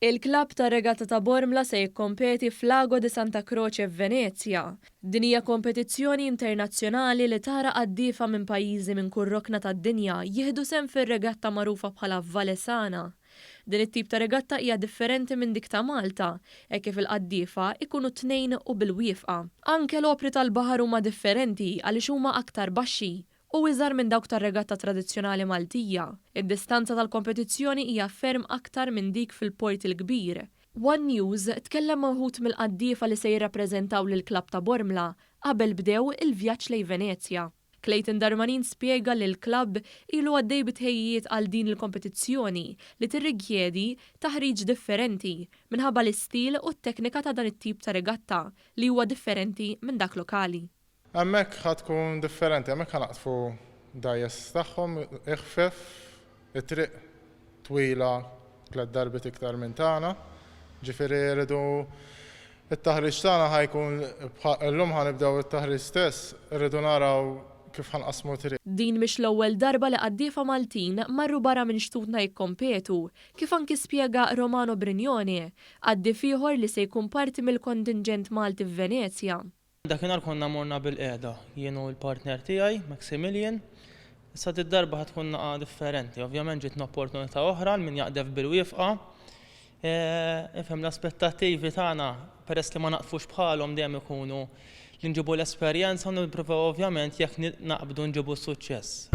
Il-klabb tar-Regatta ta' Bormla se jikkompeti f'Lago di Santa Croce f'Venezja. Din hija kompetizzjoni internazzjonali li tara qaddiefa minn pajjiżi minn kull rokna tad-dinja jieħdu sehem fir-regatta magħrufa bħala Valle Sana. Din it-tip ta' regatta hija differenti minn dik ta' Malta hekk kif il-qaddiefa jkunu tnejn u bil-wiefqa. Anke l-opri tal-baħar huma differenti għaliex huma aktar baxxi u iżgħar minn dawk tar-regatta tradizzjonali Maltija, id-distanza tal-kompetizzjoni hija ferm aktar minn dik fil-Port il-Kbir. One News tkellem ma' wħud mill-qaddiefa li se jirrappreżentaw lill-klabb ta' Bormla qabel bdew il-vjaġġ lejn Venezja. Clayton Darmanin spjega li l-klabb ilu għaddej bi tħejjijiet għal din il-kompetizzjoni li tirrikjedi taħriġ differenti minħabba l-istil u t-teknika ta' dan it-tip ta' regatta li huwa differenti minn dak lokali. Hemmhekk ħa tkun differenti, hemmhekk ħa naqdfu dgħajjes tagħhom iħfef, it-triq twila tliet darbiet iktar minn tagħna, ġifieri rridu t-taħriġ tagħna ħa jkun bħa, illum ħa nibdew it-taħriġ stess, irridu naraw kif ħa nqassmu t-triq. Din mhix l-ewwel darba li qaddiefa Maltin marru barra minn xtutna jikkompetu, kif anki spjega Romano Brignone, qaddief ieħor li se jkun parti mill-kontinġent Malti f'Venezja. Dakinhar konna morna bilqiegħda, jien u l-partner tiegħi, Maximilian. Issa did-darba ħa tkun laqgħa differenti. Ovvjament ġietna opportunità oħra għal min jaqdef bil-wifqa. Ifhem l-aspettattivi tagħna peress li ma naqdfux bħalhom dejjem ikunu li nġibu l-esperjenza u nippruvaw ovvjament jekk naqbdu nġibu s-suċċess.